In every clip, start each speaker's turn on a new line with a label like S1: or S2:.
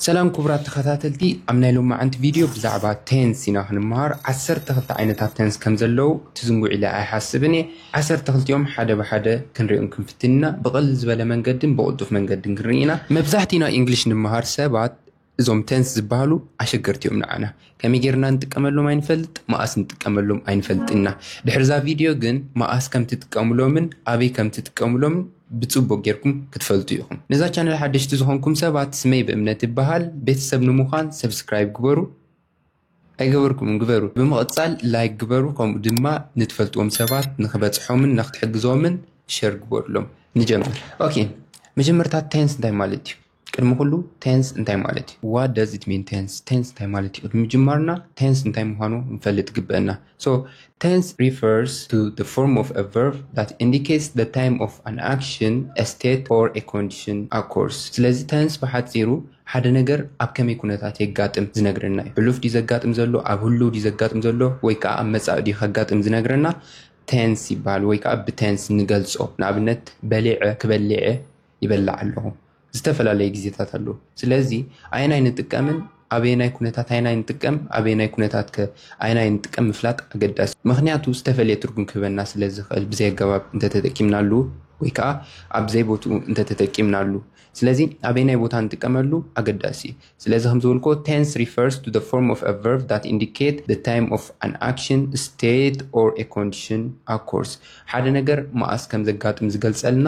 S1: ሰላም ክቡራት ተኸታተልቲ ኣብ ናይ ሎማዓንቲ ቪድዮ ብዛዕባ ቴንስ ኢና ክንመሃር ዓሰርተ ክልተ ዓይነታት ቴንስ ከም ዘለዉ ትዝንጉዕ ኢለ ኣይሓስብን እየ ዓሰርተ ክልቲኦም ሓደ ብሓደ ክንሪኦም ክንፍትን ኢና ብቕልል ዝበለ መንገድን ብቕልጡፍ መንገድን ክንርኢ ኢና መብዛሕቲና ኢንግሊሽ ንመሃር ሰባት እዞም ቴንስ ዝበሃሉ ኣሸገርቲ እዮም ንዓና ከመይ ጌርና ንጥቀመሎም ኣይንፈልጥ መኣስ ንጥቀመሎም ኣይንፈልጥ ኢና ድሕሪ እዛ ቪድዮ ግን መኣስ ከም ትጥቀምሎምን ኣበይ ከም ትጥቀምሎምን ብፅቡቅ ጌርኩም ክትፈልጡ ኢኹም ነዛ ቻነል ሓደሽቲ ዝኾንኩም ሰባት ስመይ ብእምነት ይበሃል ቤተሰብ ንምዃን ሰብስክራይብ ግበሩ ኣይገበርኩምን ግበሩ ብምቕፃል ላይክ ግበሩ ከምኡ ድማ ንትፈልጥዎም ሰባት ንክበፅሖምን ንክትሕግዞምን ሸር ግበሩሎም ንጀምር ኦኬ መጀመርታ ታይንስ እንታይ ማለት እዩ ቅድሚ ኩሉ ቴንስ እንታይ ማለት እዩ ዋት ደዝ ኢት ሚን ቴንስ ቴንስ እንታይ ማለት እዩ ቅድሚ ምጅማርና ቴንስ እንታይ ምዃኑ ንፈልጥ ግበአና ሶ ቴንስ ሪፈርስ ቱ ዘ ፎርም ኦፍ አ ቨርብ ዳት ኢንዲኬትስ ዘ ታይም ኦፍ ኣን ኣክሽን አ ስቴት ኦር አ ኮንዲሽን ኣኮርስ ስለዚ ቴንስ ብሓፂሩ ሓደ ነገር ኣብ ከመይ ኩነታት የጋጥም ዝነግረና እዩ ሕሉፍ ድዩ ዘጋጥም ዘሎ ኣብ ህሉው ድዩ ዘጋጥም ዘሎ ወይ ከዓ ኣብ መፃኢ ድዩ ከጋጥም ዝነግረና ቴንስ ይበሃል ወይ ከዓ ብቴንስ ንገልፆ ንኣብነት በሊዐ ክበሊዐ ይበልዕ ኣለኹ ዝተፈላለየ ግዜታት ኣለዉ ስለዚ ኣየናይ ንጥቀምን ኣበየናይ ኩነታት ኣየናይ ንጥቀም ኣበየናይ ኩነታት ከ ኣየናይ ንጥቀም ምፍላጥ ኣገዳሲ ምክንያቱ ዝተፈለየ ትርጉም ክህበና ስለ ዝኽእል ብዘይ ኣገባብ እንተተጠቂምናሉ ወይ ከዓ ኣብ ዘይቦትኡ እንተተጠቂምናሉ ስለዚ ኣበየናይ ቦታ ንጥቀመሉ ኣገዳሲ እዩ ስለዚ ከም ዝበልኮ ቴንስ ሪፈርስ ቱ ፎርም ኦፍ ኣ ቨርብ ዳት ኢንዲኬት ደ ታይም ኦፍ ኣን ኣክሽን ስቴት ኦር ኮንዲሽን ኣኮርስ ሓደ ነገር መኣስ ከም ዘጋጥም ዝገልፀልና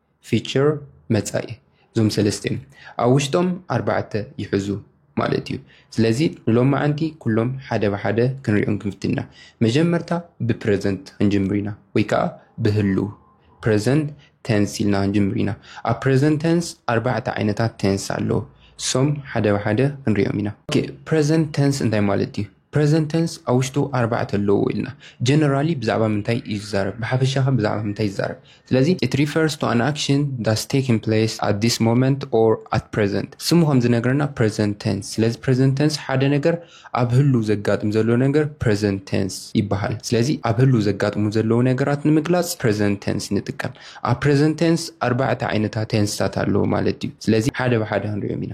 S1: ፊቸር መፃኢ እዞም ሰለስተ እዮም ኣብ ውሽጦም ኣርባዕተ ይሕዙ ማለት እዩ ስለዚ ንሎማዓንቲ ኩሎም ሓደ ብሓደ ክንሪኦም ክንፍትና መጀመርታ ብፕረዘንት ክንጅምር ኢና ወይ ከዓ ብህልው ፕረዘንት ቴንስ ኢልና ክንጅምር ኢና ኣብ ፕረዘንት ቴንስ ኣርባዕተ ዓይነታት ቴንስ ኣለዎ እሶም ሓደ ብሓደ ክንሪኦም ኢና ፕረዘንት ቴንስ እንታይ ማለት እዩ ፕረዘንት ተንስ ኣብ ውሽጡ ኣርባዕተ ኣለዎ ኢልና። ጀነራሊ ብዛዕባ ምንታይ እዩ ዝዛረብ? ብሓፈሻ ከ ብዛዕባ ምንታይ ይዛረብ? ስለዚ it refers to an action that's taking place at this moment or at present ስሙ ከም ዝነግረና ፕረዘንት ተንስ ስለዚ ፕረዘንት ተንስ ሓደ ነገር ኣብ ህሉው ዘጋጥም ዘሎ ነገር ፕረዘንት ተንስ ይበሃል። ስለዚ ኣብ ህሉው ዘጋጥሙ ዘለዉ ነገራት ንምግላጽ ፕረዘንት ተንስ ንጥቀም። ኣብ ፕረዘንት ተንስ ኣርባዕተ ዓይነታት ተንስታት ኣለዉ ማለት ድዩ? ስለዚ ሓደ ብሓደ ክንሪኦም ኢና።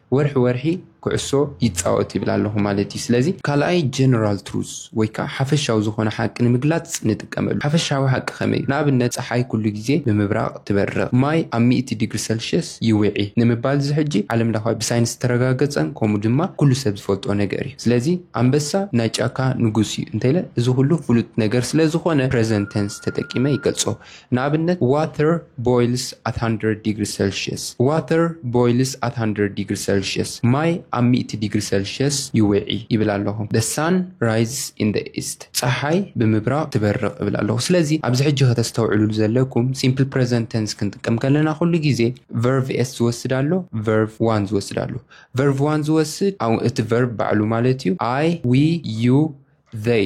S1: ወርሒ ወርሒ ኩዕሶ ይጻወት ይብል ኣለኹ ማለት እዩ። ስለዚ ካልኣይ ጀነራል ትሩዝ ወይ ከኣ ሓፈሻዊ ዝኾነ ሓቂ ንምግላጽ ንጥቀመሉ። ሓፈሻዊ ሓቂ ከመይ እዩ? ንኣብነት ጸሓይ ኩሉ ግዜ ብምብራቕ ትበርቕ፣ ማይ ኣብ ሚእቲ ዲግሪ ሰልሽየስ ይውዒ ንምባል እዚ ሕጂ ዓለም ለኻዊ ብሳይንስ ዝተረጋገጸን ከምኡ ድማ ኩሉ ሰብ ዝፈልጦ ነገር እዩ። ስለዚ ኣንበሳ ናይ ጫካ ንጉስ እዩ እንተኢለ እዚ ኩሉ ፍሉጥ ነገር ስለ ዝኾነ ፕረዘንት ተንስ ተጠቂመ ይገልጾ። ንኣብነት፣ Water boils at hundred degrees Celsius፣ Water boils at hundred degrees Celsius፣ ማይ ኣብ ሚእቲ ዲግሪ ሰልሽየስ ይውዒ ይብል ኣለኹ። The sun rises in the east፣ ጸሓይ ብምብራቕ ትበርቕ እብል ኣለኹ። ስለዚ ኣብዚ ሕጂ ከተስተውዕሉሉ ዘለኩም፣ ሲምፕል ፕረዘንት ተንስ ክንጥቀም ከለና ኩሉ ግዜ ቨርቭ ኤስ ዝወስድ ኣሎ፣ ቨርቭ ዋን ዝወስድ ኣሎ። ቨርቭ ዋን ዝወስድ እቲ ቨርቭ ባዕሉ ማለት እዩ፣ ኣይ፣ ዊ፣ ዩ፣ ዘይ።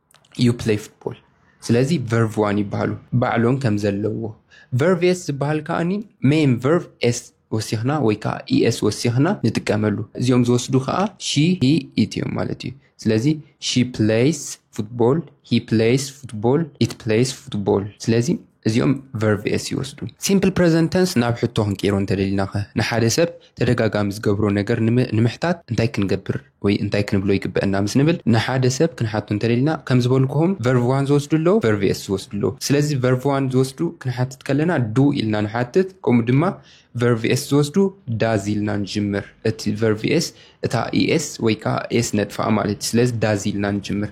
S1: ዩ ፕለይ ፉትቦል ስለዚ ቨርቭ ዋን ይበሃሉ ባዕሎም ከም ዘለዎ ቨርቭ ኤስ ዝበሃል ከዓኒ ሜን ቨርቭ ኤስ ወሲኽና ወይ ከዓ ኢኤስ ወሲኽና ንጥቀመሉ እዚኦም ዝወስዱ ከዓ ሺ ሂ ኢት እዮም ማለት እዩ ስለዚ ሺ ፕሌይስ ፉትቦል ሂ ፕሌይስ ፉትቦል ኢት ፕሌይስ ፉትቦል ስለዚ እዚኦም ቨርቭ ኤስ ይወስዱ ሲምፕል ፕሬዘንተንስ ናብ ሕቶ ክንቀይሮ እንተደሊናኸ ንሓደ ሰብ ተደጋጋሚ ዝገብሮ ነገር ንምሕታት እንታይ ክንገብር ወይ እንታይ ክንብሎ ይግበእና ምስ ንብል ንሓደ ሰብ ክንሓቱ እንተደሊና ከም ዝበልኩኹም ቨርቭ ዋን ዝወስዱ ኣለዉ ቨርቭ ኤስ ዝወስዱ ኣለዉ ስለዚ ቨርቭ ዋን ዝወስዱ ክንሓትት ከለና ዱ ኢልና ንሓትት ከምኡ ድማ ቨርቭ ኤስ ዝወስዱ ዳዝ ኢልና ንጅምር እቲ ቨርቭ ኤስ እታ ኢኤስ ወይ ከዓ ኤስ ነጥፋኣ ማለት እዩ ስለዚ ዳዝ ኢልና ንጅምር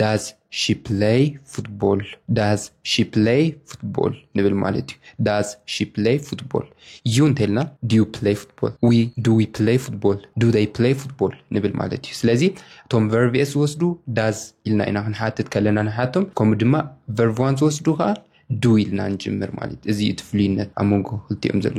S1: ዳዝ ሺ ፕለይ ፉትቦል ዳዝ ሺ ፕለይ ፉትቦል ንብል ማለት እዩ ዳዝ ሺ ፕለይ ፉትቦል ዩ እንተልና ዲዩ ፕለይ ፉትቦል ዊ ዱ ዊ ፕለይ ፉትቦል ዱ ደይ ፕለይ ፉትቦል ንብል ማለት እዩ ስለዚ እቶም ቨርቪኤስ ዝወስዱ ዳዝ ኢልና ኢና ክንሓትት ከለና ንሓቶም ከምኡ ድማ ቨርቭዋን ዝወስዱ ከዓ ዱ ኢልና ንጅምር ማለት እዚ እዩ እቲ ፍሉይነት ኣብ መንጎ ክልቲኦም ዘሎ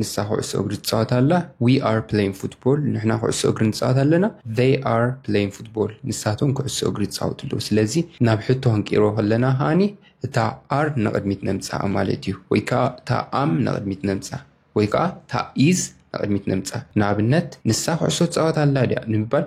S1: ንሳ ኩዕሶ እግሪ ትፃወት ኣላ ዊ ኣር ፕለይን ፉትቦል ንሕና ኩዕሶ እግሪ ንፃወት ኣለና ዘይ ኣር ፕለይን ፉትቦል ንሳቶም ኩዕሶ እግሪ ይፃወቱ ኣለዉ ስለዚ ናብ ሕቶ ክንቅይሮ ከለና ከዓኒ እታ ኣር ንቕድሚት ነምፅኣ ማለት እዩ ወይ ከዓ እታ ኣም ንቕድሚት ነምፅኣ ወይ ከዓ እታ ኢዝ ንቕድሚት ነምፅኣ ንኣብነት ንሳ ኩዕሶ ትፃወት ኣላ ድያ ንምባል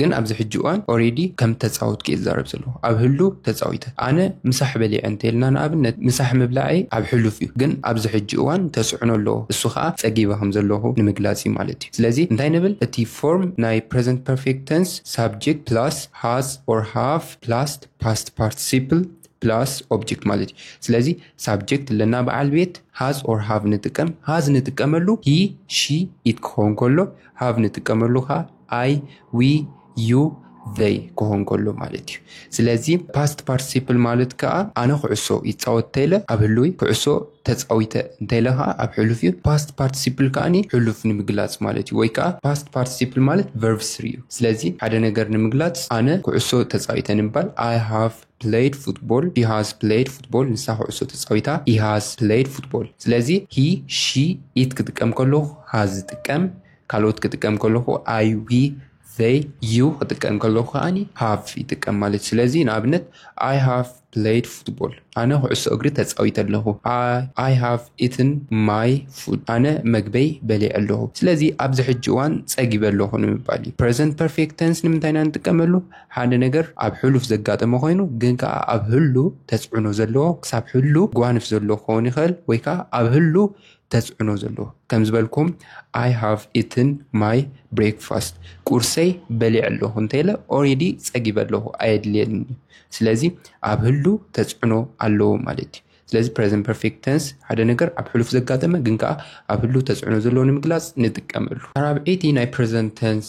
S1: ግን ኣብዚ ሕጂ እዋን ኦሬዲ ከም እተጻወትኩ እየ ዝዛረብ ዘለኹ ኣብ ህሉው ተጻዊተ ኣነ ምሳሕ በሊዐ እንተልና ንኣብነት ምሳሕ ምብላዐይ ኣብ ሕሉፍ እዩ ግን ኣብዚ ሕጂ እዋን ተጽዕኖ ኣለዎ እሱ ከኣ ጸጊበ ከም ዘለኹ ንምግላጽ እዩ ማለት እዩ ስለዚ እንታይ ንብል እቲ ፎርም ናይ ፕረዘንት ፐርፌክት ተንስ ሳብጀክት ፕላስ ሃዝ ኦር ሃቭ ፕላስ ፓስት ፓርትሲፕል ፕላስ ኦብጀክት ማለት እዩ ስለዚ ሳብጀክት ኣለና በዓል ቤት ሃዝ ኦር ሃቭ ንጥቀም ሃዝ ንጥቀመሉ ሂ ሺ ኢት ክኸውን ከሎ ሃቭ ንጥቀመሉ ከዓ ኣይ ዊ ዩ ዘይ ክኾን ከሎ ማለት እዩ ስለዚ ፓስት ፓርቲሲፕል ማለት ከዓ ኣነ ኩዕሶ ይፃወት እንተይለ ኣብ ህልዊ ኩዕሶ ተፃዊተ እንተይለ ከዓ ኣብ ሕሉፍ እዩ ፓስት ፓርቲሲፕል ከዓኒ ሕሉፍ ንምግላፅ ማለት እዩ ወይ ከዓ ፓስት ፓርቲሲፕል ማለት ቨርብ ስሪ እዩ ስለዚ ሓደ ነገር ንምግላፅ ኣነ ኩዕሶ ተፃዊተ ንባል ኣይ ሃቭ ፕለይድ ፉትቦል ሂ ሃዝ ፕለይድ ፉትቦል ንሳ ኩዕሶ ተፃዊታ ሂ ሃዝ ፕለይድ ፉትቦል ስለዚ ሂ ሺ ኢት ክጥቀም ከለኹ ሃዝ ዝጥቀም ካልኦት ክጥቀም ከለኹ ኣይ ዊ ዘይ ዩ ክጥቀም ከለኹ ከዓኒ ሃቭ ይጥቀም ማለት ስለዚ ንኣብነት ኣይ ሃቭ ፕለይድ ፉትቦል ኣነ ኩዕሶ እግሪ ተፃዊተ ኣለኹ ኣይ ሃቭ ኢትን ማይ ፉድ ኣነ መግበይ በሊዐ ኣለኹ ስለዚ ኣብዚ ሕጂ እዋን ፀጊበ ኣለኹ ንምባል እዩ ፕሬዘንት ፐርፌክት ተንስ ንምንታይ ኢና ንጥቀመሉ ሓደ ነገር ኣብ ሕሉፍ ዘጋጠመ ኮይኑ ግን ከዓ ኣብ ህሉ ተፅዕኖ ዘለዎ ክሳብ ህሉ ጓንፍ ዘሎ ክኸውን ይኽእል ወይ ከዓ ኣብ ህሉ ተፅዕኖ ዘለዎ ከም ዝበልኩም ኣይ ሃቭ ኢትን ማይ ብሬክፋስት ቁርሰይ በሊዕ ኣለኹ እንተይለ ኦሬዲ ፀጊበ ኣለኹ ኣየድልየን እዩ ስለዚ ኣብ ህሉ ተፅዕኖ ኣለዎ ማለት እዩ ስለዚ ፕሬዘንት ፐርፌክት ተንስ ሓደ ነገር ኣብ ሕሉፍ ዘጋጠመ ግን ከዓ ኣብ ህሉ ተፅዕኖ ዘለዎ ንምግላፅ ንጥቀመሉ ራብዒቲ ናይ ፕሬዘንት ተንስ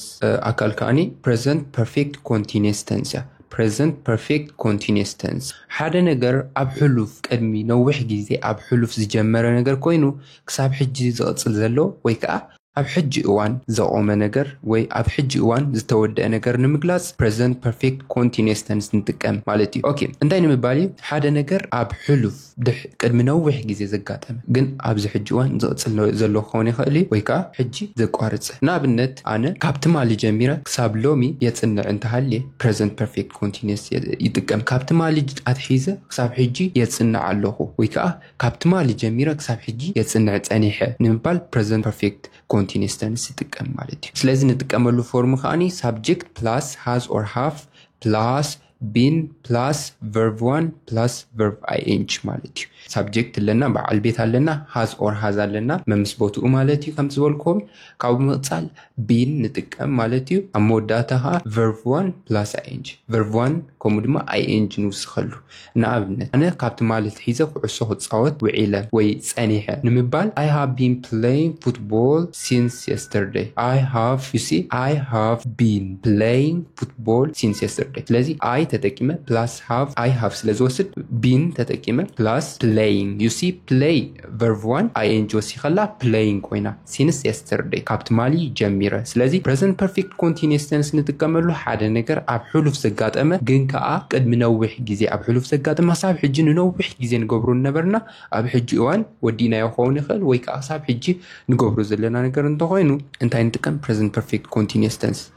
S1: ኣካል ከዓኒ ፕሬዘንት ፐርፌክት ኮንቲኒስ ተንስ እያ Present Perfect Continuous Tense፣ ሓደ ነገር ኣብ ሕሉፍ፣ ቅድሚ ነዊሕ ግዜ ኣብ ሕሉፍ ዝጀመረ ነገር ኮይኑ ክሳብ ሕጂ ዝቕጽል ዘሎ ወይ ከኣ ኣብ ሕጂ እዋን ዘቖመ ነገር ወይ ኣብ ሕጂ እዋን ዝተወደኣ ነገር ንምግላጽ Present Perfect Continuous Tense ንጥቀም ማለት እዩ። ኦኬ እንታይ ንምባል እዩ ሓደ ነገር ኣብ ሕሉፍ። ቅድሚ ነዊሕ ግዜ ዘጋጠመ ግን ኣብዚ ሕጂ እዋን ዝቕጽል ዘሎ ክኸውን ይኽእል እዩ ወይ ከኣ ሕጂ ዘቋርጸ። ንኣብነት ኣነ ካብ ትማሊ ጀሚረ ክሳብ ሎሚ የጽንዕ እንተሃልየ Present Perfect Continuous ይጥቀም። ካብ ትማሊ ኣትሒዘ ክሳብ ሕጂ የጽንዕ ኣለኹ ወይ ከኣ ካብ ትማሊ ጀሚረ ክሳብ ሕጂ የጽንዕ ጸኒሐ ንምባል Present Perfect Continuous Tense ይጥቀም ማለት እዩ። ስለዚ ንጥቀመሉ ፎርም ከኣ Subject Plus Has or Have Plus ቢን ፕላስ ቨርቭ ዋን ፕላስ ቨርቭ ኣይኤንጂ ማለት እዩ ሳብጀክት ኣለና በዓል ቤት ኣለና ሃዝ ኦር ሃዝ ኣለና መምስ ቦትኡ ማለት እዩ ከም ዝበልክዎም ካብኡ ምቕፃል ቢን ንጥቀም ማለት እዩ ኣብ መወዳእታ ከዓ ቨርቭ ዋን ፕላስ ኣይኤንጂ ቨርቭ ዋን ከምኡ ድማ ኣይኤንጂ ንውስኸሉ ንኣብነት ኣነ ካብ ትማሊ ትሒዘ ኩዕሶ ክፃወት ውዒለ ወይ ፀኒሐ ንምባል ኣይ ሃቭ ቢን ፕለይን ፉትቦል ሲንስ የስተርደይ ኣይ ሃቭ ዩ ሲ ኣይ ሃቭ ቢን ፕለይን ፉትቦል ሲንስ የስተርደይ ስለዚ ኣይ ተጠቂመ ፕላስ ሃቭ ኣይ ሃቭ ስለ ዝወስድ ቢን ተጠቂመ ፕላስ ፕለይንግ ዩሲ ፕለይ ቨርቭ ዋን ኣይኤንጂ ወሲኸላ ፕለይንግ ኮይና ሲንስ የስተርደይ ካብ ትማሊ ጀሚረ ስለዚ ፕረዘንት ፐርፌክት ኮንቲኒየስ ተንስ ንጥቀመሉ ሓደ ነገር ኣብ ሕሉፍ ዘጋጠመ ግን ከኣ ቅድሚ ነዊሕ ግዜ ኣብ ሕሉፍ ዘጋጠመ ክሳብ ሕጂ ንነዊሕ ግዜ ንገብሮ ነበርና ኣብ ሕጂ እዋን ወዲእናዮ ክኸውን ይኽእል ወይ ከኣ ክሳብ ሕጂ ንገብሮ ዘለና ነገር እንተኾይኑ እንታይ ንጥቀም ፕረዘንት ፐርፌክት ኮንቲኒየስ ተንስ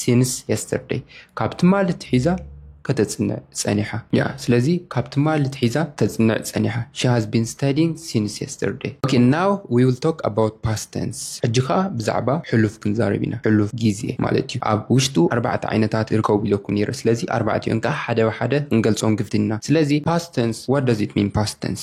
S1: ሲንስ የስተርደይ ካብ ትማሊ ትሒዛ ከተጽንዕ ጸኒሓ እያ ስለዚ ካብ ትማሊ ትሒዛ ተጽንዕ ጸኒሓ ሺ ሃዝ ቢን ስታዲንግ ሲንስ የስተርደይ ኦኬ ናው ዊ ዊል ቶክ ኣባውት ፓስት ተንስ ሕጂ ከኣ ብዛዕባ ሕሉፍ ክንዛረብ ኢና ሕሉፍ ግዜ ማለት እዩ ኣብ ውሽጡ ኣርባዕተ ዓይነታት ይርከቡ ኢለኩ ነይረ ስለዚ ኣርባዕቲኦን ከኣ ሓደ ብሓደ ክንገልጾም ግድና ስለዚ ፓስት ተንስ ዋት ዳዝ ኢት ሚን ፓስት ተንስ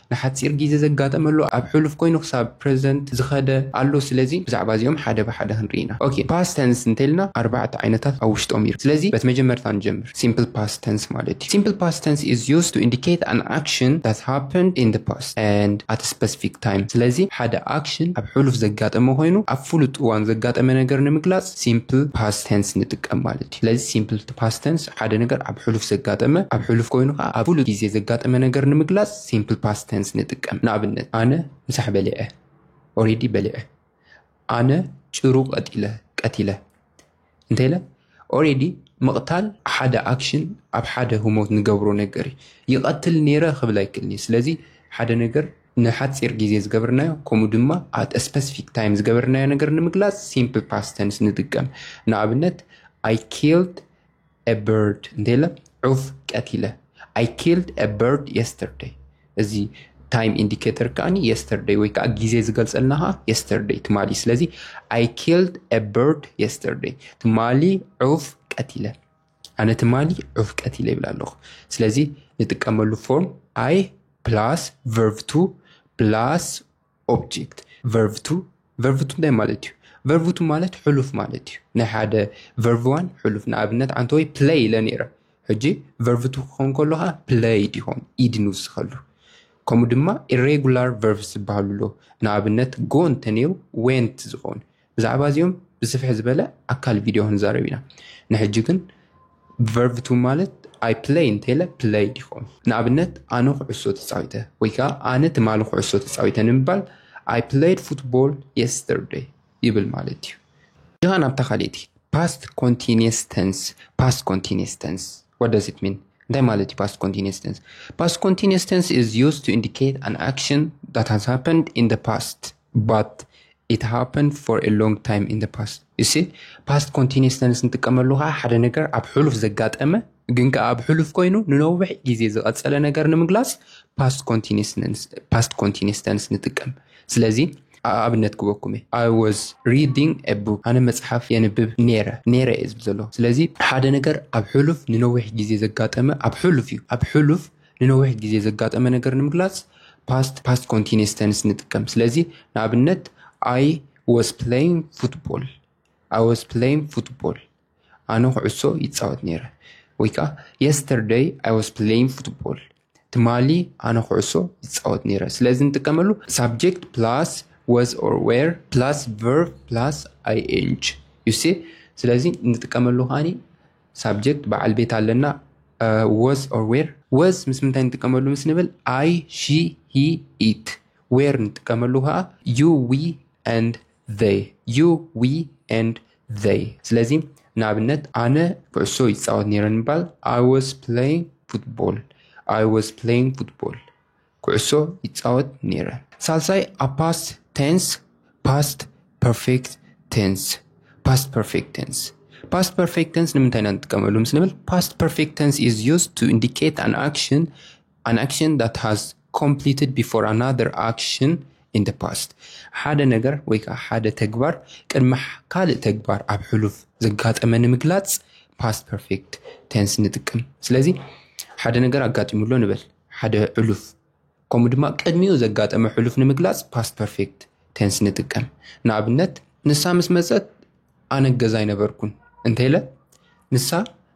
S1: ንሓጺር ጊዘ ዘጋጠመሉ ኣብ ሕሉፍ ኮይኑ ክሳብ ፕረዘንት ዝኸደ ኣሎ ስለዚ ብዛዕባ እዚኦም ሓደ ብሓደ ክንርኢ ኢና ኦኬ ፓስት ተንስ እንተልና ኣርባዕተ ዓይነታት ኣብ ውሽጦም ይርከብ ስለዚ በቲ መጀመርታ ንጀምር ሲምፕል ፓስት ተንስ ማለት እዩ ሲምፕል ፓስት ተንስ ኢዝ ዩዝድ ቱ ኢንዲኬት ኣን ኣክሽን ዳት ሃፐንድ ኢን ዘ ፓስት ኣንድ ኣት ስፐሲፊክ ታይም ስለዚ ሓደ ኣክሽን ኣብ ሕሉፍ ዘጋጠመ ኮይኑ ኣብ ፍሉጥ እዋን ዘጋጠመ ነገር ንምግላጽ ሲምፕል ፓስት ተንስ ንጥቀም ማለት እዩ። ስለዚ ሲምፕል ፓስት ተንስ ሓደ ነገር ኣብ ሕሉፍ ዘጋጠመ፣ ኣብ ሕሉፍ ኮይኑ ከኣ ኣብ ፍሉጥ ግዜ ዘጋጠመ ነገር ንምግላጽ ሲምፕል ፓስት ተንስ ንጥቀም። ንኣብነት፣ ኣነ ምሳሕ በሊዐ፣ ኦሬዲ በሊዐ። ኣነ ጭሩ ቀቲለ፣ ቀቲለ። እንተኢለ ኦሬዲ ምቕታል ሓደ ኣክሽን ኣብ ሓደ ህሞት ንገብሮ ነገር እዩ። ይቐትል ነይረ ክብል ኣይክእልን እየ። ስለዚ ሓደ ነገር ንሓጺር ግዜ ዝገበርናዮ ከምኡ ድማ at a specific time ዝገበርናዮ ነገር ንምግላጽ simple past tense ንጥቀም። ንኣብነት I killed a bird እንተ ኢለ ዑፍ ቀቲለ። I killed a bird yesterday እዚ ታይም ኢንዲኬተር ከዓኒ የስተርደይ ወይ ከዓ ግዜ ዝገልፀልና ከዓ የስተርደይ ትማሊ ስለዚ ኣይ ኪልድ አ በርድ የስተርደይ ትማሊ ዑፍ ቀቲለ ኣነ ትማሊ ዑፍ ቀቲለ ይብል ኣለኹ ስለዚ ንጥቀመሉ ፎርም ኣይ ፕላስ ቨርቭ ቱ ፕላስ ኦብጀክት ቨርቭ ቱ ቨርቭ ቱ እንታይ ማለት እዩ ቨርቭ ቱ ማለት ሕሉፍ ማለት እዩ ናይ ሓደ ቨርቭ ዋን ሕሉፍ ንኣብነት ኣንተ ወይ ፕለይ ኢለ ነይረ ሕጂ ቨርቭ ቱ ክኸውን ከሎ ከዓ ፕለይ ይኸውን ኢድ ንውስኸሉ ከምኡ ድማ ኢሬጉላር ቨርቭ ዝበሃሉ ኣሎ ንኣብነት ጎ እንተነይሩ ዌንት ዝኸውን ብዛዕባ እዚኦም ብስፍሕ ዝበለ ኣካል ቪድዮ ክንዛረብ ኢና ንሕጂ ግን ቨርቭ ቱ ማለት ኣይ ፕለይ እንተለ ፕለይ ዲኹም ንኣብነት ኣነ ኩዕሶ ተፃዊተ ወይ ከዓ ኣነ ትማሊ ኩዕሶ ተፃዊተ ንምባል ኣይ ፕለይድ ፉትቦል የስተርደይ ይብል ማለት እዩ ድኻ ናብታ ካልእቲ ፓስት ኮንቲኒስ ተንስ ፓስት ኮንቲኒስ ተንስ what does it mean እንታይ ማለት እዩ ፓስት ኮንቲኒስ ተንስ ፓስት ኮንቲኒስ ተንስ is used to indicate an action that has happened in the past ባት ኢት ሃፐንድ ፎር ኤ ሎንግ ታይም ኢን ዘ ፓስት ዩ ሲ። ፓስት ኮንቲኒየስ ተንስ ንጥቀመሉ ከኣ ሓደ ነገር ኣብ ሕሉፍ ዘጋጠመ ግን ከኣ ኣብ ሕሉፍ ኮይኑ ንነዊሕ ግዜ ዝቐጸለ ነገር ንምግላጽ ፓስት ኮንቲኒየስ ተንስ ንጥቀም። ስለዚ ኣብነት ክበኩም እየ ኣይ ወዝ ሪዲንግ ኤ ቡክ ኣነ መጽሓፍ የንብብ ነይረ ነይረ እየ ዝብል ዘሎ ስለዚ ሓደ ነገር ኣብ ሕሉፍ ንነዊሕ ግዜ ዘጋጠመ ኣብ ሕሉፍ እዩ ኣብ ሕሉፍ ንነዊሕ ግዜ ዘጋጠመ ነገር ንምግላጽ ፓስት፣ ፓስት ኮንቲኒየስ ተንስ፣ ንጥቀም። ስለዚ ንኣብነት ኣይ ወስ ፕለይንግ ፉትቦል፣ ኣይ ወስ ፕለይንግ ፉትቦል፣ ኣነ ኩዕሶ ይጻወት ነይረ። ወይ ከኣ የስተርደይ ኣይ ወስ ፕለይንግ ፉትቦል፣ ትማሊ ኣነ ኩዕሶ ይጻወት ነይረ። ስለዚ ንጥቀመሉ ሳብጀክት ፕላስ ወስ ኦር ዌር ፕላስ ቨርብ ፕላስ ኣይኤንጂ ዩሲ ስለዚ ንጥቀመሉ ከኣ ሳብጀክት፣ በዓል ቤት ኣለና፣ ወዝ ኦር ዌር። ወዝ ምስ ምንታይ ንጥቀመሉ ምስ ንብል ኣይ፣ ሺ፣ ሂ፣ ኢት። ዌር ንጥቀመሉ ከዓ ዩ፣ ዊ፣ ኤንድ ዘይ። ዩ፣ ዊ፣ ኤንድ ዘይ። ስለዚ ንኣብነት ኣነ ኩዕሶ ይፃወት ነይረ ንምባል ኣይ ወዝ ፕለይንግ ፉትቦል። ኣይ ወዝ ፕለይንግ ፉትቦል። ኩዕሶ ይጻወት ነይረ። ሳልሳይ ኣብ ፓስት ቴንስ፣ ፓስት ፐርፌክት ቴንስ፣ ፓስት ፐርፌክት ቴንስ። ፓስት ፐርፌክት ቴንስ ንምንታይ ኢና ንጥቀመሉ ምስ ንብል ፓስት ፐርፌክት ቴንስ ኢዝ ዩዝድ ቱ ኢንዲኬት ኣን ኣክሽን ኣን ኣክሽን ዳት ሃዝ ኮምፕሊትድ ቢፎር ኣናዘር ኣክሽን ኢን ደ ፓስት ሓደ ነገር ወይ ከዓ ሓደ ተግባር ቅድሚ ካልእ ተግባር ኣብ ሕሉፍ ዘጋጠመ ንምግላፅ ፓስት ፐርፌክት ቴንስ ንጥቀም። ስለዚ ሓደ ነገር ኣጋጢሙሎ ንበል። ሓደ ሕሉፍ ከምኡ ድማ ቅድሚኡ ዘጋጠመ ሕሉፍ ንምግላጽ ፓስት ፐርፌክት ቴንስ ንጥቀም። ንኣብነት ንሳ ምስ መጸት ኣነ ገዛ ኣይነበርኩን እንተኢለ ንሳ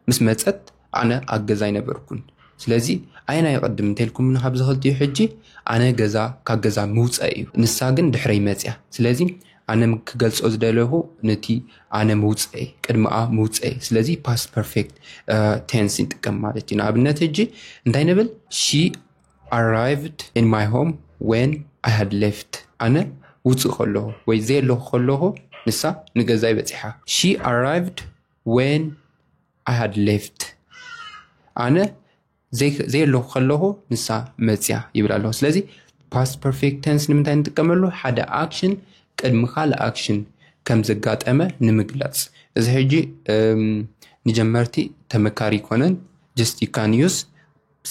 S1: ምስ መጸት ኣነ ኣብ ገዛ ኣይነበርኩን። ስለዚ ኣየናይ ይቕድም እንተልኩምኒ ካብዚ ክልቲኡ ሕጂ ኣነ ገዛ ካብ ገዛ ምውጸእ እዩ ንሳ ግን ድሕረይ መጽያ ስለዚ ኣነ ክገልጾ ዝደለኹ ነቲ ኣነ ምውፀኤ ቅድሚኣ ምውፀኤ ስለዚ ፓስት ፐርፌክት ቴንስ ንጥቀም ማለት እዩ ንኣብነት እጂ እንታይ ንብል ሺ ኣራይቭድ ን ማይ ሆም ወን ኣይ ሃድ ሌፍት ኣነ ውፅእ ከለኹ ወይ ዘየለኹ ከለኹ ንሳ ንገዛይ በፂሓ ሺ ኣራይቭድ ወን ኣይ ሃድ ሌፍት ኣነ ዘየለኹ ከለኹ ንሳ መፅያ ይብል ኣለኹ ስለዚ ፓስት ፐርፌክት ተንስ ንምንታይ ንጥቀመሉ ሓደ ኣክሽን ቅድሚ ካልእ ኣክሽን ከም ዘጋጠመ ንምግላፅ እዚ ሕጂ ንጀመርቲ ተመካሪ ይኮነን ጀስት ካን ዩስ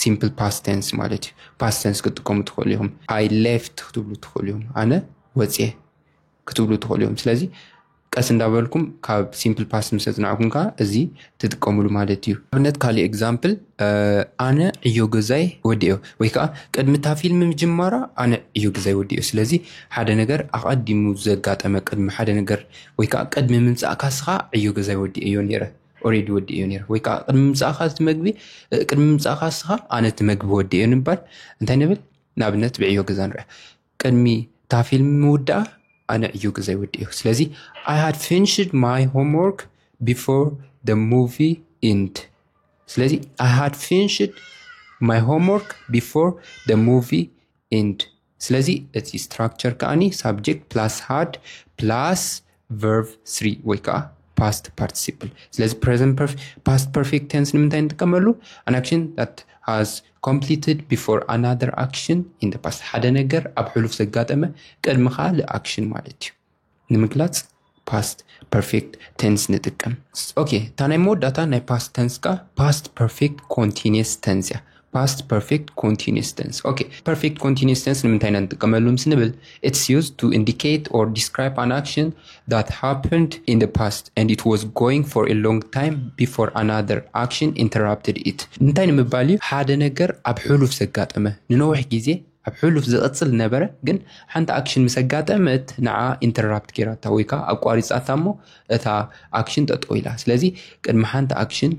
S1: ሲምፕል ፓስት ተንስ ማለት እዩ ፓስት ተንስ ክትጥቀሙ ትኽእሉ ኢኹም ኣይ ሌፍት ክትብሉ ትኽእሉ ኢኹም ኣነ ወፅየ ክትብሉ ትኽእሉ ኢኹም ስለዚ ቀስ እንዳበልኩም ካብ ሲምፕል ፓስት ምስ ኣጽናዕኩም ከዓ እዚ ትጥቀምሉ ማለት እዩ ኣብነት ካሊእ ኤግዛምፕል ኣነ ዕዮ ገዛይ ወዲኦ ወይ ከዓ ቅድሚ እታ ፊልም ምጅማራ ኣነ ዕዮ ገዛይ ወዲኦ ስለዚ ሓደ ነገር ኣቐዲሙ ዘጋጠመ ቅድሚ ሓደ ነገር ወይ ከዓ ቅድሚ ምምፃእ ካስኻ ዕዮ ገዛይ ወዲኦ እዮ ነረ ኦሬዲ ወዲኦ እዮ ነረ ወይ ከዓ ቅድሚ ምምፃእካ እቲ መግቢ ቅድሚ ምምፃእካ ስኻ ኣነ እቲ መግቢ ወዲኦ ንባል እንታይ ንብል ንኣብነት ብዕዮ ገዛ ንርያ ቅድሚ እታ ፊልም ምውዳኣ ኣነ ዕዮ ግዘይ ወዲእኩ ስለዚ ኣይ ሃድ ፊንሽድ ማይ ሆምወርክ ቢፎር ደ ሙቪ ኢንድ ስለዚ ኣይ ሃድ ፊንሽድ ማይ ሆምወርክ ቢፎር ደ ሙቪ ኢንድ ስለዚ እቲ ስትራክቸር ከዓኒ ሳብጀክት ፕላስ ሃድ ፕላስ ቨርቭ ስሪ ወይ ከዓ ፓስት ፓርቲሲፕል ስለዚ ፕሬዘንት ፓስት ፐርፌክት ቴንስ ንምንታይ ንጥቀመሉ ኣን ኣክሽን ት ሃዝ ኮምፕሊትድ ቢፎር ኣናር ኣክሽን ኢን ፓስት ሓደ ነገር ኣብ ሕሉፍ ዘጋጠመ ቅድሚ ካልእ ኣክሽን ማለት እዩ ንምግላፅ ፓስት ፐርፌክት ቴንስ ንጥቀም ኦኬ እታ ናይ መወዳእታ ናይ ፓስት ተንስ ከዓ ፓስት ፐርፌክት ኮንቲኒስ ተንስ እያ ፓስት ፐርፌክት ኮንቲኒስ ተንስ ኦኬ ፐርፌክት ኮንቲኒስ ተንስ ንምንታይ ኢና ንጥቀመሉ ምስ ንብል ኢትስ ዩዝ ቱ ኢንዲኬት ኦር ዲስክራይብ ኣን ኣክሽን ዳት ሃፕንድ ኢን ደ ፓስት ኤንድ ኢት ዋዝ ጎይንግ ፎር ኤ ሎንግ ታይም ቢፎር ኣናዘር ኣክሽን ኢንተራፕትድ ኢት እንታይ ንምባል እዩ ሓደ ነገር ኣብ ሕሉፍ ዘጋጠመ ንነዊሕ ግዜ ኣብ ሕሉፍ ዝቕፅል ነበረ ግን ሓንቲ ኣክሽን ምስ ኣጋጠመት ንዓ ኢንተራፕት ጌራታ ወይ ከዓ ኣቋሪፃታ እሞ እታ ኣክሽን ጠጠው ኢላ ስለዚ ቅድሚ ሓንቲ ኣክሽን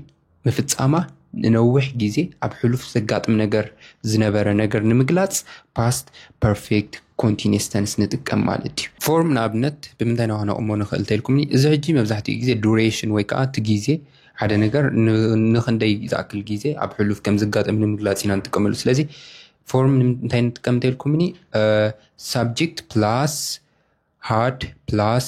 S1: ምፍጻማ ንነዊሕ ግዜ ኣብ ሕሉፍ ዘጋጥም ነገር ዝነበረ ነገር ንምግላጽ past perfect continuous tense ንጥቀም ማለት እዩ። ፎርም ንኣብነት ብምንታይ ኢና ክነቕሞ ንኽእል ተልኩምኒ፣ እዚ ሕጂ መብዛሕትኡ ግዜ duration ወይ ከኣ እቲ ግዜ ሓደ ነገር ንኽንደይ ዝኣክል ግዜ ኣብ ሕሉፍ ከም ዝጋጠም ንምግላጽ ኢና ንጥቀመሉ። ስለዚ ፎርም እንታይ ንጥቀም ተልኩምኒ፣ ሳብጀክት ፕላስ ሃድ ፕላስ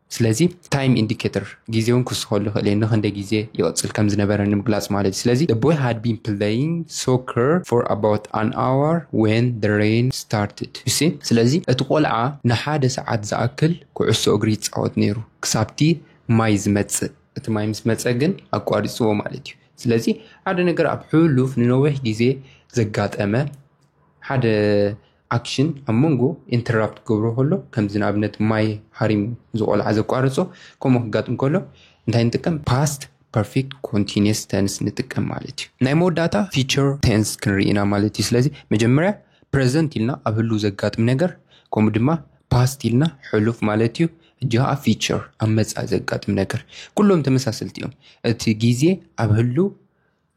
S1: ስለዚ ታይም ኢንዲኬተር ግዜ እውን ክውስኸሉ ይኽእል እየ ንክንደይ ግዜ ይቕፅል ከም ዝነበረ ንምግላፅ ማለት እዩ ስለዚ the boy had been playing soccer for about an hour when the rain started you see ስለዚ እቲ ቆልዓ ንሓደ ሰዓት ዝኣክል ኩዕሶ እግሪ ይፃወት ነይሩ ክሳብቲ ማይ ዝመፅእ እቲ ማይ ምስ መፀ ግን ኣቋሪፅዎ ማለት እዩ ስለዚ ሓደ ነገር ኣብ ሕሉፍ ንነዊሕ ግዜ ዘጋጠመ ሓደ ኣክሽን ኣብ መንጎ ኢንተራፕት ክገብሮ ከሎ ከምዚ ንኣብነት ማይ ሃሪሙ ዝቆልዓ ዘቋርጾ ከምኡ ክጋጥም ከሎ እንታይ ንጥቀም ፓስት ፐርፌክት ኮንቲኒየስ ተንስ ንጥቀም ማለት እዩ ናይ መወዳእታ ፊቸር ቴንስ ክንርኢ ኢና ማለት እዩ ስለዚ መጀመርያ ፕረዘንት ኢልና ኣብ ህሉ ዘጋጥም ነገር ከምኡ ድማ ፓስት ኢልና ሕሉፍ ማለት እዩ እጂ ከዓ ፊቸር ኣብ መፃእ ዘጋጥም ነገር ኩሎም ተመሳሰልቲ እዮም እቲ ግዜ ኣብ ህሉ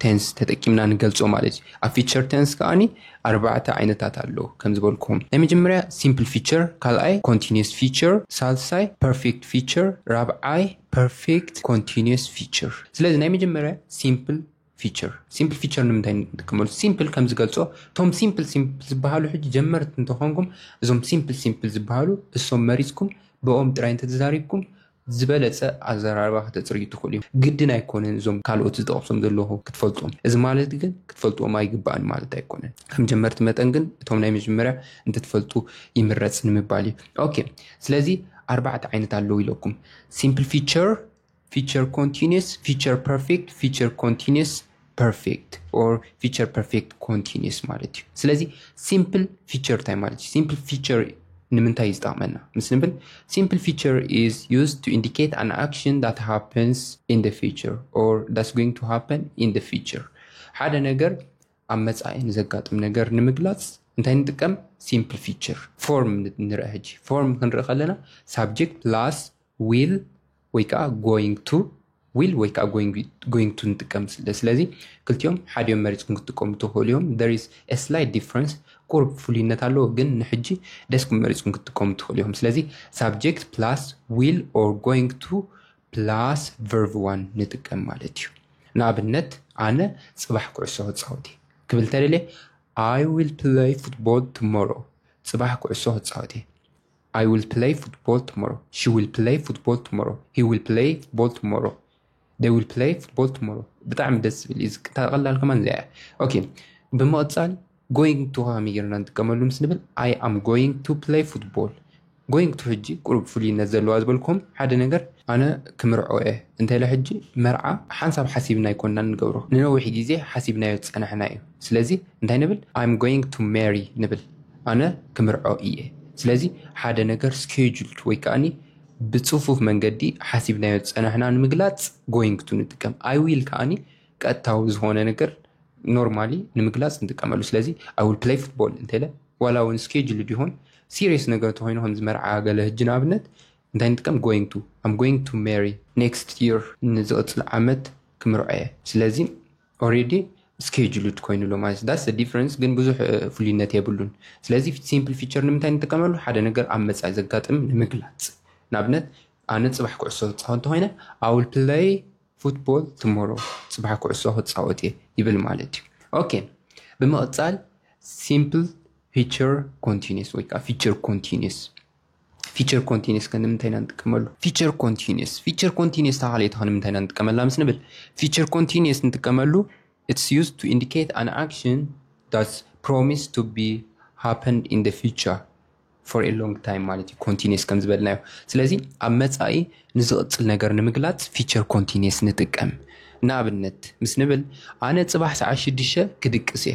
S1: ቴንስ ተጠቂምና ንገልጾ ማለት እዩ። ኣብ ፊቸር ቴንስ ከኣኒ ኣርባዕተ ዓይነታት ኣሎ ከም ዝበልኩም ናይ መጀመርያ ሲምፕል ፊቸር ካልኣይ ኮንቲኒየስ ፊቸር ሳልሳይ ፐርፌክት ፊቸር ራብዓይ ፐርፌክት ኮንቲኒየስ ፊቸር ስለዚ ናይ መጀመርያ ሲምፕል ፊቸር ሲምፕል ፊቸር ንምንታይ ንጥቀመሉ ሲምፕል ከም ዝገልጾ እቶም ሲምፕል ሲምፕል ዝበሃሉ ሕጂ ጀመርቲ እንተኾንኩም እዞም ሲምፕል ሲምፕል ዝበሃሉ እሶም መሪጽኩም ብኦም ጥራይ እንተተዛሪብኩም ዝበለጸ ኣዘራርባ ከተጽርዩ ትኽእሉ ኢኹም። ግድን ኣይኮነን እዞም ካልኦት ዝጠቕሶም ዘለኹ ክትፈልጦም። እዚ ማለት ግን ክትፈልጥዎም ኣይግባእን ማለት ኣይኮነን። ከም ጀመርቲ መጠን ግን እቶም ናይ መጀመርያ እንተትፈልጡ ይምረጽ ንምባል እዩ። ኦኬ ስለዚ ኣርባዕተ ዓይነት ኣለዉ ኢለኩም። ሲምፕል ፊቸር፣ ፊቸር ኮንቲኒየስ፣ ፊቸር ፐርፌክት፣ ፊቸር ኮንቲኒየስ ፐርፌክት ኦር ፊቸር ፐርፌክት ኮንቲኒስ ማለት እዩ ስለዚ ሲምፕል ፊቸር እንታይ ማለት እዩ ሲምፕል ፊቸር ንምንታይ ይዝጠቕመና ምስ ንብል ሲምፕል ፊቸር ኢዝ ዩዝ ቱ ኢንዲኬት ኣን ኣክሽን ዳት ሃፕንስ ኢን ደ ፊቸር ኦር ዳትስ ጎይንግ ቱ ሃፐን ኢን ደ ፊቸር ሓደ ነገር ኣብ መፃኢ ንዘጋጥም ነገር ንምግላፅ እንታይ ንጥቀም ሲምፕል ፊቸር ፎርም ንርአ ሕጂ ፎርም ክንርኢ ከለና ሳብጀክት ፕላስ ዊል ወይ ከዓ ጎይንግ ቱ ዊል ወይ ከዓ ጎይንግ ቱ ንጥቀም ስለዚ ክልቲኦም ሓዲኦም መሪፅኩም ክትጥቀሙ ትኽእሉ እዮም ደሪስ ስላይት ዲፍረንስ ቁርብ ፍሉይነት ኣለዎ ግን ንሕጂ ደስኩም መሪፅኩም ክትጥቀሙ ትኽእሉ እዮም ስለዚ ሳብጀክት ፕላስ ዊል ኦር ጎይንግ ቱ ፕላስ ቨርቭ ዋን ንጥቀም ማለት እዩ ንኣብነት ኣነ ፅባሕ ኩዕሶ ክፃወት እየ ክብል ተደልየ ኣይ ዊል ፕለይ ፉትቦል ትሞሮ ፅባሕ ኩዕሶ ክፃወት እየ I will play football tomorrow. She will play football tomorrow. He will play football tomorrow. They will play football tomorrow. ብጣዕሚ ደስ ዝብል እዩ ዝቅታ ቀላል ከማን እዚኣ እያ ኦኬ ብምቕፃል ጎይንግ ቱ ከመይ ጌርና ንጥቀመሉ ምስ ንብል ኣይ ኣም ጎይንግ ቱ ፕለይ ፉትቦል ጎይንግ ቱ ሕጂ ቁሩብ ፍሉይነት ዘለዋ ዝበልኩም ሓደ ነገር ኣነ ክምርዖ እየ እንተለ ሕጂ መርዓ ሓንሳብ ሓሲብና ይኮንና ንገብሮ ንነዊሕ ግዜ ሓሲብናዮ ዝፀናሕና እዩ ስለዚ እንታይ ንብል ኣም ጎይንግ ቱ ሜሪ ንብል ኣነ ክምርዖ ኢየ ስለዚ ሓደ ነገር ስኬጁልድ ወይ ከኣኒ ብጽፉፍ መንገዲ ሓሲብናዮ ዝጸናሕና ንምግላጽ ጎይንግ ቱ ንጥቀም ኣይ ዊል ከኣኒ ቀጥታዊ ዝኾነ ነገር ኖርማሊ ንምግላጽ ንጥቀመሉ ስለዚ ኣይ ዊል ፕለይ ፉትቦል እንተለ ዋላ እውን ስኬጁልድ ይኹን ሲሪየስ ነገር እንተኾይኑ ከም ዝመርዓ ገለ ህጂ ንኣብነት እንታይ ንጥቀም ጎይንግ ቱ ኣም ጎይንግ ቱ ሜሪ ኔክስት ይር ንዝቕጽል ዓመት ክምርዖ እየ ስለዚ ኦሬዲ ስኬጁሉድ ኮይኑ ኣሎ ማለት ዳስ ዲፍረንስ ግን ብዙሕ ፍሉይነት የብሉን ስለዚ ሲምፕል ፊቸር ንምንታይ ንጥቀመሉ ሓደ ነገር ኣብ መፃኢ ዘጋጥም ንምግላፅ ንኣብነት ኣነ ፅባሕ ኩዕሶ ክፃወት እንተኮይነ ኣውል ፕለይ ፉትቦል ትሞሮ ፅባሕ ኩዕሶ ክፃወት እየ ይብል ማለት እዩ ኦኬ ብምቕፃል ሲምፕል ፊቸር ኮንቲኒስ ወይ ከዓ ፊቸር ኮንቲኒስ ፊቸር ኮንቲኒስ ከ ንምንታይ ኢና ንጥቀመሉ? ፊቸር ኮንቲኒስ ፊቸር ኮንቲኒስ እታ ካልኣይቲ ከ ንምንታይ ኢና ንጥቀመላ ምስ ንብል ፊቸር ኮንቲኒስ ንጥቀመሉ ኢትስ ዩዝ ቱ ኢንዲኬት ኣን ኣክሽን ዳትስ ፕሮሚስ ቱ ቢ ሃፐንድ ኢን ደ ፊቸር ፎር ኤ ሎንግ ታይም ማለት እዩ ኮንቲኒስ ከም ዝበልናዮ። ስለዚ ኣብ መጻኢ ንዝቕጽል ነገር ንምግላጽ ፊቸር ኮንቲኒስ ንጥቀም። ንኣብነት ምስ ንብል ኣነ ጽባሕ ሰዓት ሽዱሽተ ክድቅስ እየ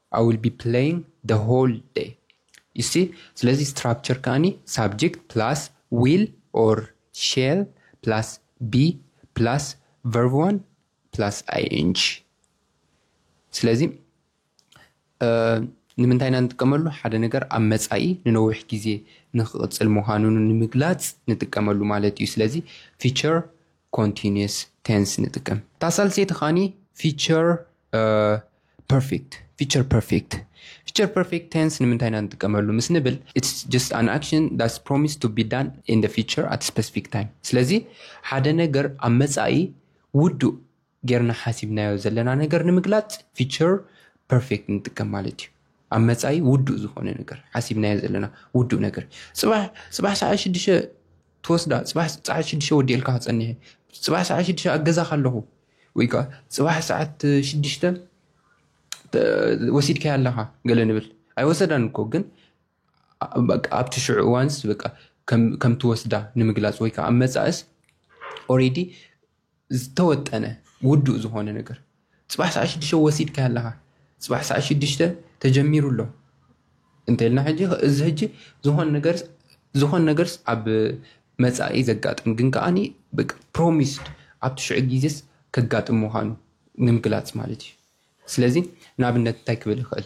S1: I will be playing the whole day you see ስለዚ ስትራክቸር ከኣኒ ሳብጀክት ፕላስ ዊል ኦር ሼል ፕላስ ቢ ፕላስ ቨርብ ዋን ፕላስ ing ስለዚ ንምንታይ ኢና ንጥቀመሉ ሓደ ነገር ኣብ መፃኢ ንነዊሕ ግዜ ንክቕፅል ምዃኑ ንምግላፅ ንጥቀመሉ ማለት እዩ ስለዚ ፊቸር ኮንቲንየስ ቴንስ ንጥቀም። እታ ሳልሰይቲ ኻኒ ፊቸር ፐርፌክት ፊቸር ፐርፌክት ፊቸር ፐርፌክት ቴንስ ንምንታይ ኢና ንጥቀመሉ ምስ ንብል ኢትስ ጀስት ኣን ኣክሽን ዳትስ ፕሮሚስ ቱ ቢ ዳን ኢን ደ ፊቸር ኣት ስፐሲፊክ ታይም ስለዚ ሓደ ነገር ኣብ መፃኢ ውዱእ ጌርና ሓሲብናዮ ዘለና ነገር ንምግላጽ ፊቸር ፐርፌክት ንጥቀም ማለት እዩ። ኣብ መጻኢ ውዱእ ዝኾነ ነገር ሓሲብናዮ ዘለና ውዱእ ነገር ጽባሕ ጽባሕ ሰዓት ሽዱሽተ ትወስዳ ጽባሕ ሰዓት ሽዱሽተ ወዲኤልካ ክጸኒሐ ጽባሕ ሰዓት ሽዱሽተ ኣብ ገዛ ካለኹ ወይ ከዓ ጽባሕ ሰዓት ሽዱሽተ ወሲድካያ ኣለኻ ገለ ንብል ኣይወሰዳን እኮ ግን ኣብቲ ሽዑ እዋንስ በቃ ከምትወስዳ ንምግላፅ ወይ ከዓ ኣብ መፃእስ ኦሬዲ ዝተወጠነ ውዱእ ዝኾነ ነገር ፅባሕ ሰዓት ሽዱሽተ ወሲድካ ኣለኻ ፅባሕ ሰዓት ሽዱሽተ ተጀሚሩ ኣሎ እንተልና ሕጂ እዚ ሕጂ ዝኾነ ነገር ዝኾነ ነገርስ ኣብ መፃኢ ዘጋጥም ግን ከዓኒ ፕሮሚስድ ኣብቲ ሽዑ ግዜስ ከጋጥም ምዃኑ ንምግላፅ ማለት እዩ ስለዚ ንኣብነት እንታይ ክብል ይኽእል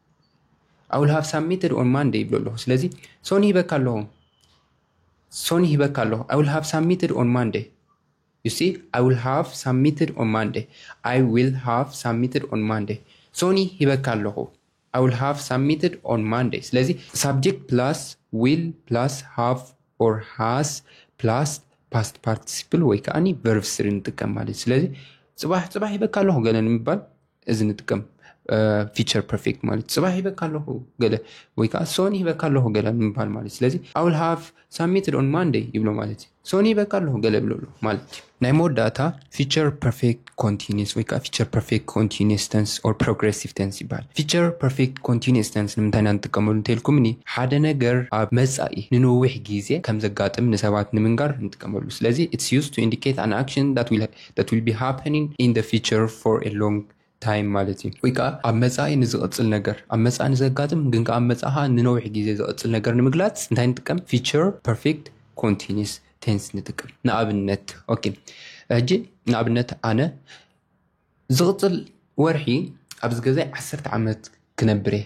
S1: ኣውል ሃቭ ሳሚትድ ኦን ማንደ ይብሎ ኣለኹ ስለዚ ሶኒ ሂበካ ኣለኹ ሶኒ ሂበካ ኣለኹ ኣውል ሃቭ ሳሚትድ ኦን ማንደ ዩሲ ኣውል ሃቭ ሳሚትድ ኦን ማንደ ኣይ ዊል ሃቭ ሳሚትድ ኦን ማንደ ሶኒ ሂበካ ኣለኹ ኣውል ሃቭ ሳሚትድ ኦን ማንደ ስለዚ ሳብጀክት ፕላስ ዊል ፕላስ ሃቭ ኦር ሃስ ፕላስ ፓስት ፓርቲሲፕል ወይ ከዓኒ ቨርቭ ስሪ ንጥቀም ማለት እዩ ስለዚ ፅባሕ ፅባሕ ሂበካ ኣለኹ ገለ ንምባል እዚ ንጥቀም ፊቸር ፐርፌክት ማለት ፅባሕ ይበካ ኣለኹ ገለ ወይ ከዓ ሶኒ ይበካ ኣለኹ ገለ ምባል ማለት ስለዚ ኣውል ሃፍ ሳሚትድ ኦን ማንደይ ይብሎ ማለት እዩ ሶኒ ይበካ ኣለኹ ገለ ይብሎ ኣሎ ማለት እዩ ናይ መወዳእታ ፊቸር ፐርፌክት ኮንቲኒስ ወይ ከዓ ፊቸር ፐርፌክት ኮንቲኒስ ተንስ ኦር ፕሮግሬሲቭ ተንስ ይበሃል ፊቸር ፐርፌክት ኮንቲኒስ ተንስ ንምንታይ ኢና ንጥቀመሉ እንተልኩምኒ ሓደ ነገር ኣብ መፃኢ ንነዊሕ ግዜ ከም ዘጋጥም ንሰባት ንምንጋር ንጥቀመሉ ስለዚ ኢትስ ዩዝ ቱ ኢንዲኬት ኣን ኣክሽን ዳት ዊል that will be happening in the future for a long time ማለት እዩ ወይ ከዓ ኣብ መፃኢ ንዝቕፅል ነገር ኣብ መፃኢ ንዘጋጥም ግን ከዓ ኣብ መፃኢ ከዓ ንነዊሕ ግዜ ዝቕፅል ነገር ንምግላፅ እንታይ ንጥቀም ፊቸር ፐርፌክት ኮንቲኒስ ቴንስ ንጥቀም ንኣብነት ኦኬ ሕጂ ንኣብነት ኣነ ዝቕፅል ወርሒ ኣብዚ ገዛይ ዓሰርተ ዓመት ክነብር እየ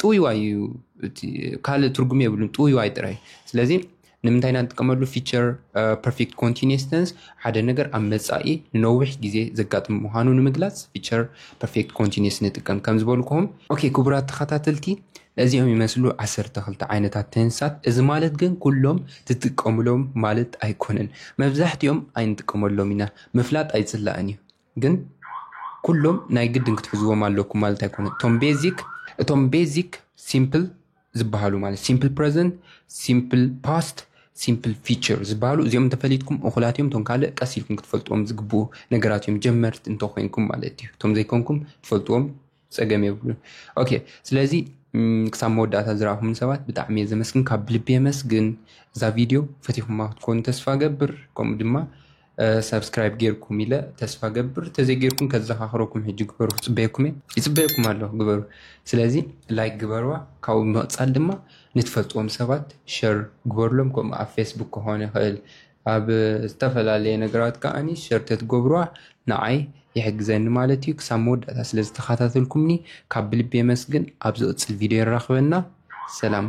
S1: ጥውይዋይ እዩ ካልእ ትርጉም የብሉን ጥውይዋይ ጥራይ ስለዚ ንምንታይ ኢና ንጥቀመሉ ፊቸር ፐርፌክት ኮንቲኒስ ተንስ ሓደ ነገር ኣብ መፃኢ ንነዊሕ ግዜ ዘጋጥም ምዃኑ ንምግላፅ ፊቸር ፐርፌክት ኮንቲኒስ ንጥቀም ከም ዝበልኩኹም ኦኬ ክቡራት ተኸታተልቲ እዚኦም ይመስሉ ዓሰርተ ክልተ ዓይነታት ተንሳት እዚ ማለት ግን ኩሎም ትጥቀሙሎም ማለት ኣይኮነን መብዛሕትኦም ኣይንጥቀመሎም ኢና ምፍላጥ ኣይፅላእን እዩ ግን ኩሎም ናይ ግድን ክትሕዝዎም ኣለኩም ማለት ኣይኮነ እቶም ቤዚክ እቶም ቤዚክ ሲምፕል ዝበሃሉ ማለት ሲምፕል ፕረዘንት ሲምፕል ፓስት ሲምፕል ፊቸር ዝበሃሉ እዚኦም እንተፈሊጥኩም እኹላት እዮም እቶም ካልእ ቀስ ኢልኩም ክትፈልጥዎም ዝግብኡ ነገራት እዮም ጀመርት እንተኮይንኩም ማለት እዩ እቶም ዘይኮንኩም ትፈልጥዎም ፀገም የብሉን ኦኬ ስለዚ ክሳብ መወዳእታ ዝረኣኹም ሰባት ብጣዕሚ እየ ዘመስግን ካብ ልቢ የመስግን እዛ ቪድዮ ፈቲኹማ ክትኮኑ ተስፋ ገብር ከምኡ ድማ ሰብስክራይብ ጌርኩም ኢለ ተስፋ ገብር ተዘይጌርኩም ከዘኻኽረኩም ሕጂ ግበሩ ክፅበየኩም እየ ይፅበየኩም ኣለኹ ግበሩ ስለዚ ላይክ ግበርዋ ካብኡ ብምቕፃል ድማ ንትፈልጥዎም ሰባት ሸር ግበርሎም ከምኡ ኣብ ፌስቡክ ክኾን ይኽእል ኣብ ዝተፈላለየ ነገራት ከኣ ሸር ተትገብሩዋ ንዓይ ይሕግዘኒ ማለት እዩ ክሳብ መወዳእታ ስለ ዝተኻታተልኩምኒ ካብ ብልቢ የመስግን ኣብ ዝቕጽል ቪድዮ የራኽበና ሰላም።